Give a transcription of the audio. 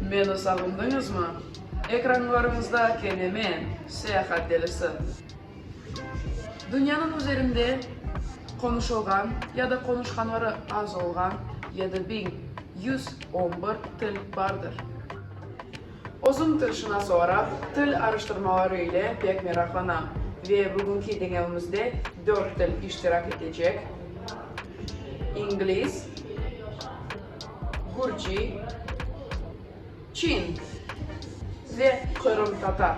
Meni sağındıñızmı? Ekranlarıñızda kelime Seyahat delisi. Dünyanıñ üzerinde qonuşılğan ya da qonuşqanları az olğan yedi biñ yüz on bir til bardır. Özüm tilşınas olaraq til araştırmaları ile pek meraqlanam ve bugünki deñevimizde dört til iştirak etecek, ingliz, gürci, çin ve qırımtatar.